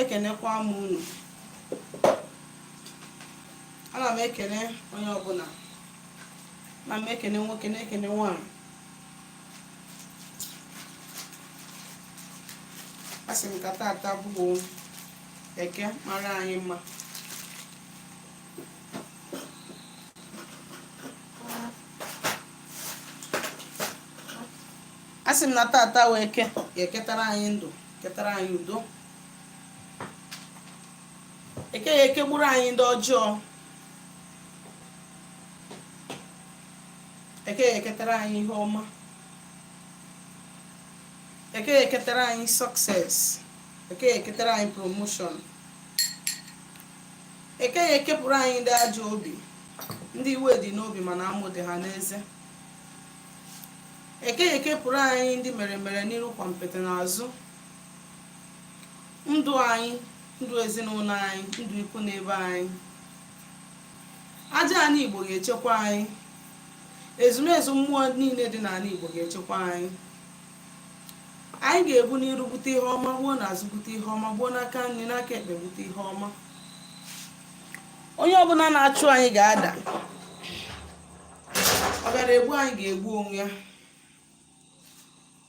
ekenekwa m unu ana m ekene onye ọbụla ana m ekene nwoke na-ekene nwaanyị asị m ka tata bụ eke mara anyị mma asị m na tata bụ eke ya eketara anyị ndụ ketara anyị udo eke ya ekegburu anyị ndị ọjọọ eke ya eketara anyị ihe ọma eke ya eketara anyị success eke ya eketara anyị promotion eke ya ekepụrụ anyị ndị ajọ obi ndị iwe dị n'obi mana amụ dị ha n'eze eke ya ekepụrụ anyị ndị mere mere n'iru kwampiti n'azụ ndụ anyị ndụ ezinụlọ anyị ndụ ikwu na ibe anyị aja ani igbo ga-echekwa anyị ezumezu mmụọ niile dị n'ala igbo ga-echekwa anyị anyị ga-egbu n'iru gbute ihe ọma gbuo n'azụ gbute ihe ọma gbuo n'aka nri n'aka ekpe gbute ihe ọma onye ọbụla na-achụ anyị ga-ada ọ bịara egbu anyị ga-egbu onwe ya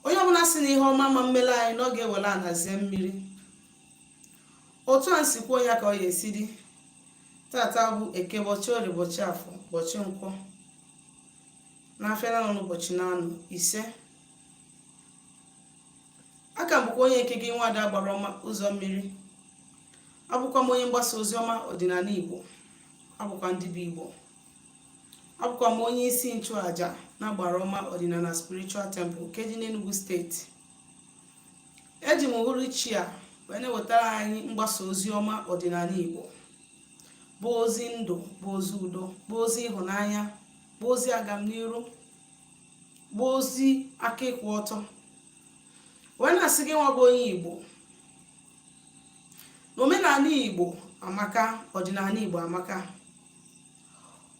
onye ọbụla sị na ihe ọma ma-emere anyị na ọ ga-ewere ana zie mmiri otu anyị si kwuo ya ka ọ ya esi dị tata bụ eke bọchị orie bọchị afọ bọchị nkwọ n'afịa na-anọ n'ụbọchị na-anọ ise aka m bụkwa onye nke gị nwaada agbara ọma ụzọ mmiri abụkwa m onye mgbasa ozi ọma ọdịnala igbo abụkwa m dibịa igbo abụkwa m onye isi nchụaja na agbara ọma ọdịnala spiritual temple nke dị n'Enugu steeti eji m uhuruchi a wee na-ewetara anyị mgbasa ozi ọma ọdịnala igbo bụ ozi ndụ bụ ozi udo bụ ozi ịhụnanya bụ ozi agamniru bụ ozi aka ịkwụ ọtọ wee na-asị gị nwa bụ onye igbo na omenala igbo amaka ọdịnala igbo amaka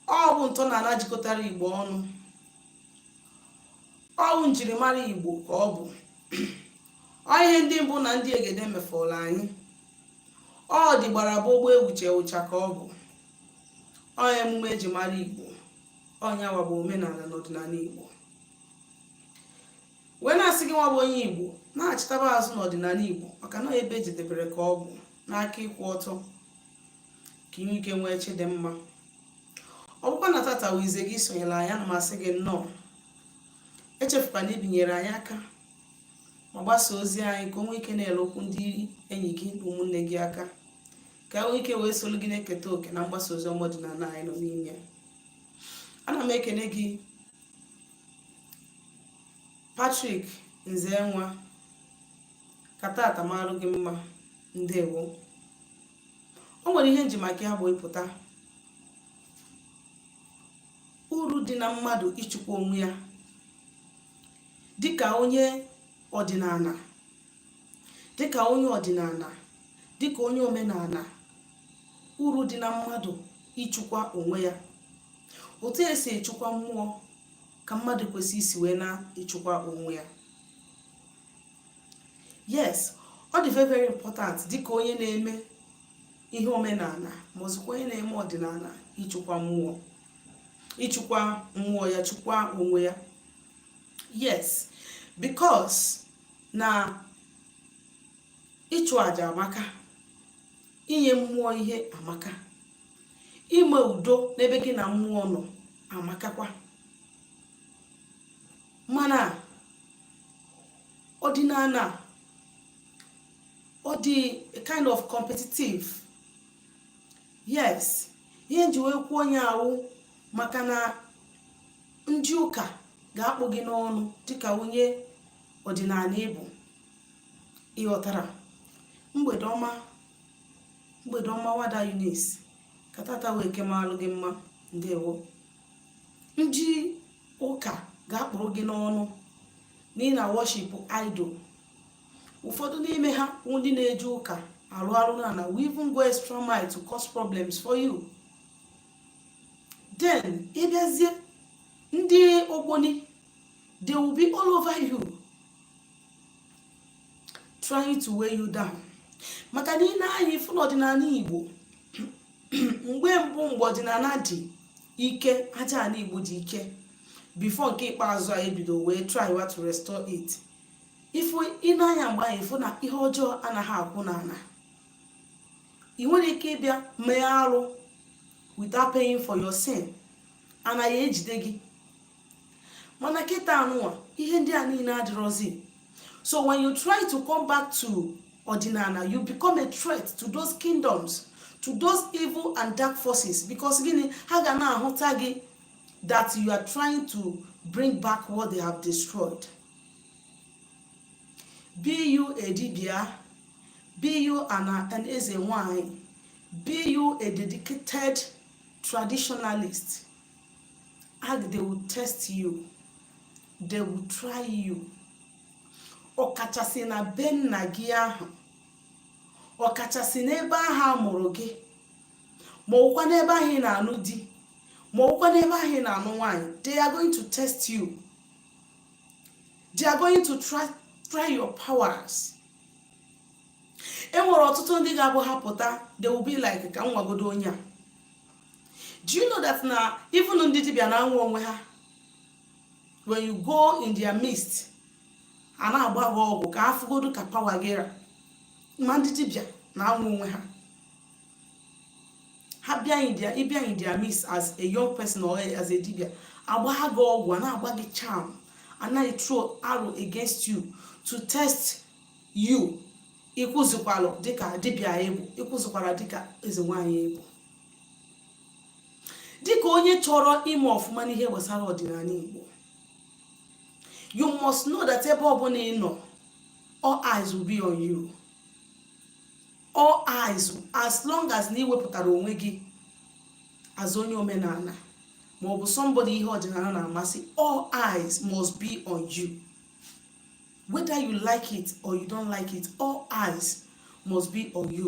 ọ bụ ntọala jikọtara igbo ọnụ ọ bụ njirimara igbo ka ọ bụ ọ ihe ndị mbụ na ndị egede mefọrọ anyị ọ dị gbara gbogbo ewuche ụcha ka ọ bụ ọ emume eji mara igbo ọ nya wa bụ omenala na ọdịnala igbo wee na-asị gị nwa bụ onye igbo nachitaba azụ n'ọdịnala igbo maka na ebe e jedebere ka ọ bụ n'aka ịkwụ ọtọ ka i nwee ike nwee chi dị mma ọ bụkwa na tata bụ izizi gị isonyere anyị ana m asị gị nnọọ echefukwana ibinyere anyị aka ma gbasa ozi anyị ka o nwee ike na-elukwu ndị enyi gị na ụmụnne gị aka ka e nwee ike wee solu gị na-eketa oke na mgbasa ozi ọma ọdịnala anyị nọ n'ime ana m ekene gị Patrick Nzenwa ka tata marụ gị mma ndewo o nwere ihe nji maka ya bụ ịpụta uru dị na mmadụ ịchịkwa onwe ya dịka onye ọdịnala dịka onye ọdịnala dịka onye omenala uru dị na mmadụ ịchịkwa onwe ya otu esi echukwa mmụọ ka mmadụ kwesị isi wee na-echukwa onwe ya yes ọ dị very very important dịka onye na-eme ihe omenala ma ozikwa onye na-eme ọdịnala ịchụkwa mmụọ ịchụkwa mmụọ ya chụkwa onwe ya yes because na ịchụ aja amaka inye mmụọ ihe amaka ime udo n'ebe gị na mmụọ nọ amakakwa mana ọdịnala ọ dị a kind of competitive yes ihe nji wee kwuo ihe a wụ maka na ndị ụka ga-akpụ gị n'ọnụ dịka onye ọdịnala ị bụ ị ghọtara mgbede ọma mgbede ọma nwada Eunice ka tata wụ Eke malụ gị mma ndewo ndị ụka ga-akpụrụ gị n'ọnụ na ị na worship idol ụfọdụ n'ime ha ndị na-eji ụka arụ arụ na na will even go extra mile to cause problems for you then ị bịazie ndị ogboni they will be all over you trying to weigh you down maka na i nee anya ị fụ na ọdịnala igbo mgbe mbụ mgbe ọdịnala dị ike aja ala igbo dị ike before nke ikpeazụ a e bido wee try wa to restore it ị fụ i nee anya mgbe ahụ ị fụ na ihe ọjọọ anaghị akwụ n'ala i nwerọ ike ịbịa mee arụ without paying for your sin ana ga-ejide gị mana kịta anụwa ihe ndị a niile adịrọzi so when you try to come back to ọdịnala you become a threat to those kingdoms to those evil and dark forces because gịnị ha ga na-ahụta gị that you are trying to bring back what they have destroyed be you a dibia be you an, an eze nwanyị be you a dedicated traditionalist and they will test you they will try you ọkachasị na be nna gị ahụ ọkachasị n'ebe ahụ a mụrụ gị ma ọwụkwa n'ebe ahụ ị na-anụ di ma ọwụkwa n'ebe ahụ ị na-anụ nwaanyị they are going to test you they are going to try, try your powers e nwere ọtụtụ ndị ga-abụ ha pụta they will be like ka m nwagodo onye a do you know that na even ndị dibịa na-anwa onwe ha when you go in their midst a na-agba gị ọgwụ ka a fụgodu ka power gị ra ma ndị dibịa na-anwa onwe ha ha bịa in their ị bịa in their midst as a young person or as a dibịa a gbaa gị ọgwụ a na-agba gị charm a na throw arrow against you to test you ị kwụzikwalụ dịka dibịa ị bụ ị kwụzikwara dịka eze nwaanyị ị bụ dịka onye chọrọ ime ọfụma n'ihe gbasara ọdịnala Igbo you must know that ebe ọbụla ị nọ all eyes will be on you all eyes as long as na i wepụtara onwe gị as onye omenala ma ọ bụ somebody ihe ọdịnala na-amasị all eyes must be on you whether you like it or you don't like it all eyes must be on you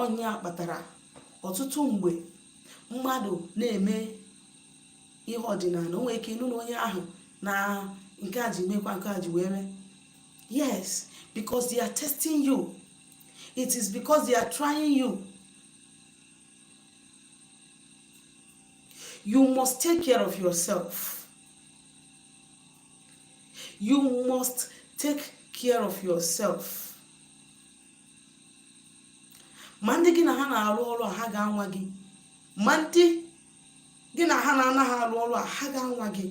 ọ ya kpatara ọtụtụ mgbe mmadụ na-eme ihe ọdịnala o nwere ike ị nụ na onye ahụ na nke a ji mekwa nke a ji wee mee yes because they are testing you it is because they are trying you you must take care of yourself you must take care of yourself ma ndị gị na ha na-arụ ọrụ a ha ga-anwa gị ma ndị gị na ha na-anaghị arụ ọrụ a ha ga-anwa gị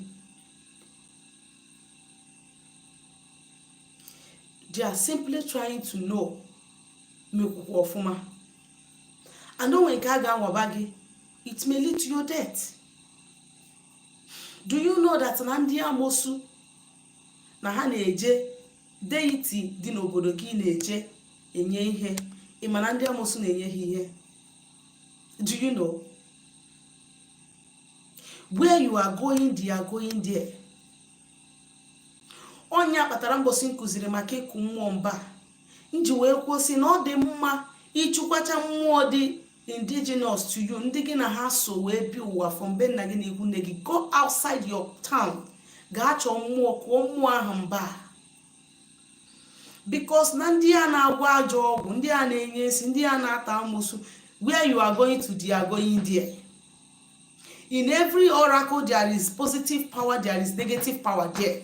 they are simply trying to know ma ị kwụkwa ọfụma and o nwee nke a ga-anwaba gị it may lead to your death do you know that na ndị amosu na ha na-eje deity dị n'obodo gị na-eje enye ihe ị ma na ndị amosu na-enye ha ihe do you know where you are going they are going there ọ ya kpatara mbọsị m kuziri maka ịkụ mmụọ mba m ji wee kwusi na ọ dị mma ịchụkwacha mmụọ dị indigenous to you ndị gị na ha so wee bịa ụwa from be nna gị na ikwu nne gị go outside your town gaa chọọ mmụọ kụọ mmụọ ahụ mba because na ndị a na-agwọ ajọ ọgwụ ndị a na-enye nsị ndị a na-ata amosu where you are going to they are going there in every oracle there is positive power there is negative power there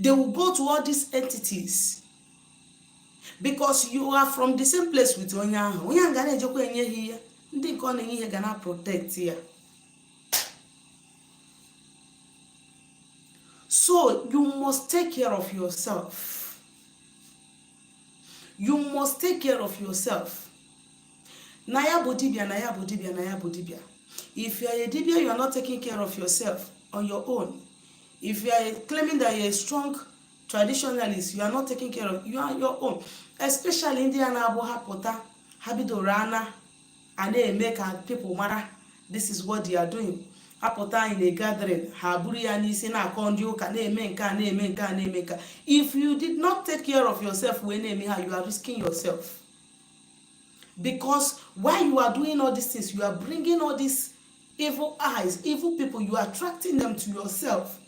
they will go to all these entities because you are from the same place with onye ahụ onye ahụ ga na-ejekwa enye ha ihe ndị nke ọ na-enye ihe ga na protect ya so you must take care of yourself you must take care of yourself na ya bụ dibia na ya bụ dibia na ya bụ dibia if you are a dibia you are not taking care of yourself on your own if you are claiming that you are a strong traditionalist you are not taking care of you are on your own especially ndị a na-abụ ha pụta ha bidoro ana a na-eme ka people mara this is what they are doing ha pụta in a gathering ha buru ya n'isi na-akọ ndị ụka na-eme nke a na-eme nke a na-eme nke if you did not take care of yourself wee na-eme ha you are risking yourself because while you are doing all these things you are bringing all these evil eyes evil people you are attracting them to yourself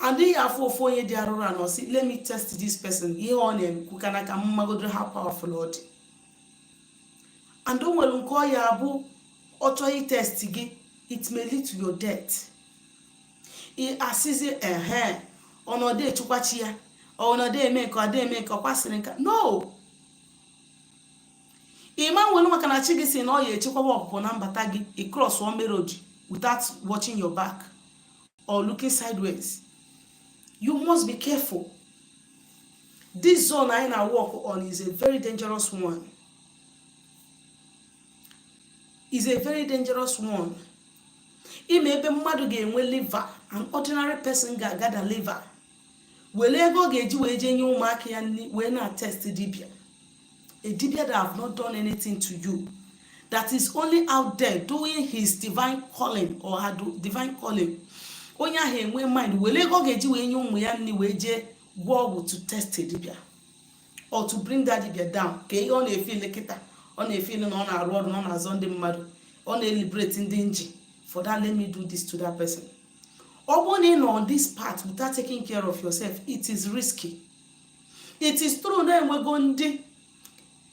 adịghị afọ ofu onye dị arụrụ ana sị let me test this person ihe ọ na-eme ka na ka m magodu how powerful ọ dị and o nwere nke ọ ya-abụ ọ chọọ itest gị it may lead to your death asịzi ehe ọ nọdụ echekwa chi ya ọ nọdụ eme nke ọdụ eme nke ọkwasịrị nka no ị ma nwere maka na chi gị sị na ọ ya-echekwaba ọpụpụ na mbata gị ị cross one road without watching your back or looking sideways you must be careful this zone anyị na work on is a very dangerous one is a very dangerous one ị ma ebe mmadụ ga-enwe liver an ordinary person ga-agather liver were ego ọ ga-eji wee jee nye ụmụaka ya nri wee na test dibia a dibia that have not done anything to you that is only out there doing his divine calling or her divine calling onye ahụ enwe mind were ego ọ ga-eji wee nye ụmụ ya nri wee jee gwọ ọgwụ to test dibia or to bring that dibia down kee ihe ọ na-efeel kịta ọ na-efeel na ọ na-arụ ọrụ na ọ na-azọ ndị mmadụ ọ na-eliberate ndị nji for that let me do this to that person ọ bụrụ na ị nọ on this path without taking care of yourself it is risky it is true na enwego ndị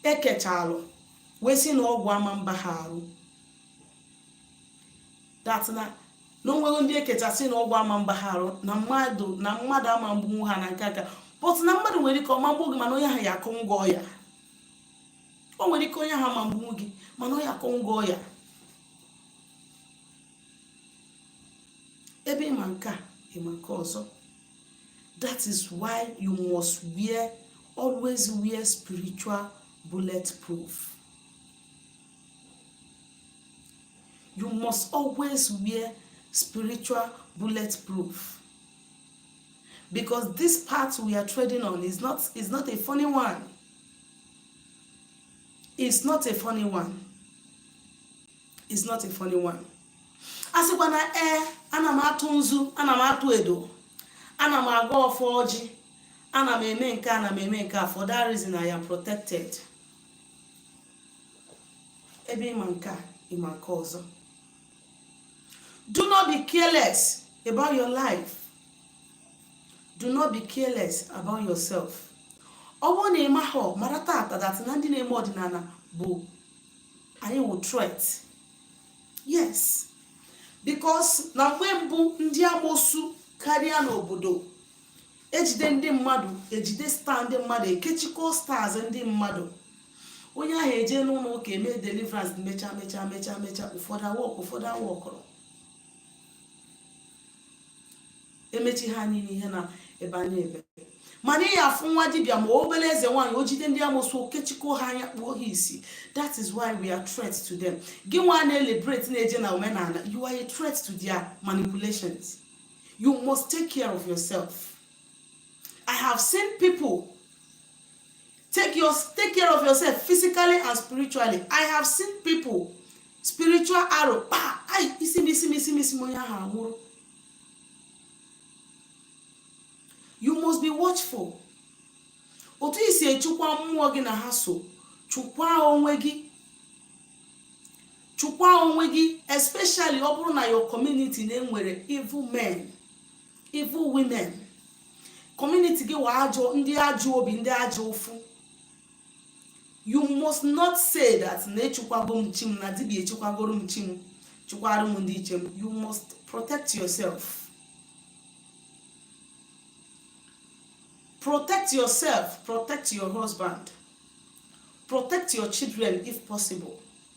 e kechalụ wee sị na ọgwụ ama mba ha arụ that na na o nwere ndị ekechasị na ọgwụ ama mba ha arụ na mmadụ ama mgbu ha na nke aka but na mmadụ nwere ike ọma mgbu gị mana onye ahụ ya akụ ngị ọya o nwere ike onye ahụ ma mgbu gị mana onye akụ ngị ọya ebe ị ma nke a ị ma nke ọzọ that is why you must always wear spiritual bulletproof you must always wear spiritual bulletproof because this path we are treading on is not is not a funny one it's not a funny one it's not a funny one a sịkwa na ee eh, ana m atụ nzu ana m atụ edo ana m agọ ọfọ ọjị ana m eme nke ana m eme nke a for that reason i am protected ebe ị ma nke a ị ma nke ọzọ do not be careless about your life do not be careless about yourself ọ bụrụ na ị maghọ mara tata that na ndị na-eme ọdịnala bụ anyị wụ threat yes because na mgbe mbụ ndị amosu karịa n'obodo ejide ndị mmadụ ejide star ndị mmadụ ekechikọ stars ndị mmadụ onye ahụ eje n'ụlọ ụka eme deliverance mecha mecha mecha mecha ụfọdụ awork ụfọdụ aworkọrọ emecha ha niile ihe na-ebe ana-ebe mana ị afụ nwa dibịa ma obere eze nwaanyị o jide ndị amosu o kechikọ ha anya kpuo ha isi that is why we are threat to them gị nwa na-eliberate na-eje na omenala you are a threat to their manipulations you must take care of yourself i have seen people take your take care of yourself physically and spiritually i have seen people spiritual arrow kpa ai isi m isi m isi m isi m onye ahụ anwụrụ you must be watchful otu i si echukwa mmụọ gị na ha so chukwa onwe gị chukwa onwe gị especially ọ bụrụ na your community na-enwere evil men evil women community gị wụ ajọ ndị ajọ obi ndị anya ụfụ you must not say that na echukwago m chi m na dibịa echukwagoro m chi m chukwara m ndị ichie m you must protect yourself protect yourself protect your husband protect your children if possible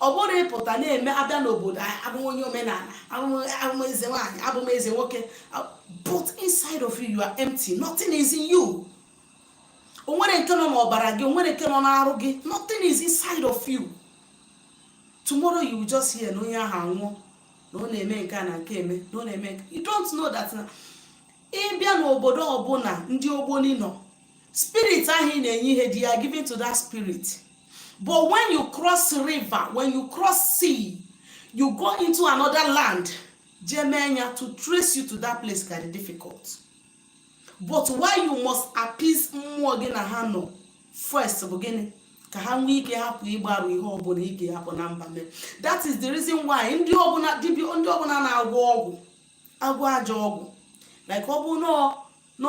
ọ bụrụ ịpụta na-eme abịa n'obodo abụ onye omenala abụ eze nwaanyị abụ m eze nwoke but inside of you you are empty nothing is in you o nwere nke nọ n'ọbara gị o nwere nke nọ n'arụ gị nothing is inside of you tomorrow you will just hear na onye ahụ anwụọ na ọ na-eme nke a na nke eme na ọ na-eme you don't know that na ị bịa n'obodo ọbụla ndị ogboni nọ spirit ahụ ị na-enye ihe they are giving to that spirit but when you cross river when you cross sea you go into another land jee mee ya to trace you to that place ka dị difficult but why you must appease mmụọ gị na ha nọ first bụ gịnị ka ha nwee ike hapụ ịgbarụ ihe ọbụla ị ga-ahapụ na mba mee that is the reason why ndị ọbụla dibịa ndị ọbụla na-agwọ ọgwụ agwọ ajọ ọgwụ like ọ bụ na na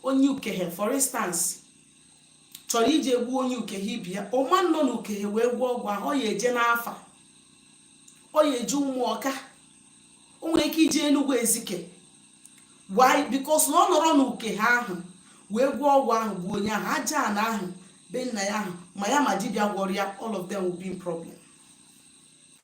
onye ukehe for instance chọrọ ije egbu onye ukehe ibe ya ọ ma nọ na ukehe wee gwọọ ọgwụ ahụ ọ ya eje n'afa ọ ya eje ụmụọka o nwere ike ije enugwu ezike why because na ọ nọrọ na ukehe ahụ wee gwọọ ọgwụ ahụ gbuo onye ahụ aja ana ahụ be nna ya ahụ ma ya ma dibịa gwọrọ ya all of them will be in problem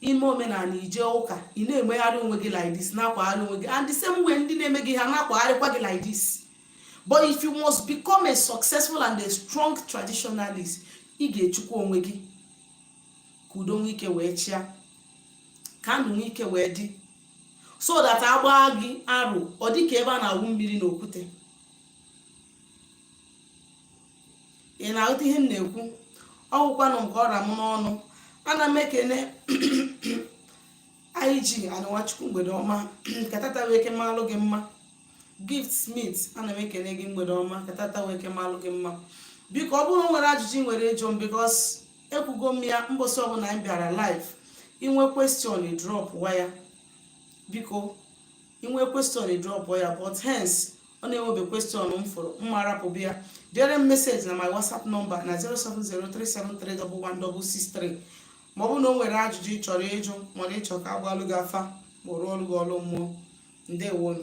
ime omenala ije ụka ị na-emegharị onwe gị like this na-akwagharị onwe gị and the same way ndị na-eme gị ha na-akwagharịkwa gị like this but if you must become a successful and a strong traditionalist ị ga-echekwa onwe gị ka udo nwee ike wee chịa ka ndụ nwee ike wee dị so that a gbaa gị arụ ọ dị ka ebe a na-awụ mmiri n'okwute ị na-aghọta ihe m na-ekwu ọ bụkwanụ nke ọ ra m n'ọnụ ana m ekene ig anụwachukwu mgbede ọma ka tata wee ke malụ gị mma gift smith ana m ekene gị mgbede ọma ka tata wee ke malụ gị mma biko ọ bụrụ nwere ajụjụ ị nwere ịjụ m because ekwugo m ya mbọsị ọbụla anyị bịara live i nwee question dropwa ya biko i nwee question dropwa ya but hence ọ na-enwebe question m fụrụ mma arapụ bịa dere m message na my whatsapp number na 07037311163 ma ọ bụ na o nwere ajụjụ ị chọrọ ịjụ mana ị chọ ka a gbalụ gị afa ma rụọrọ gị ọrụ mmụọ ndewo nụ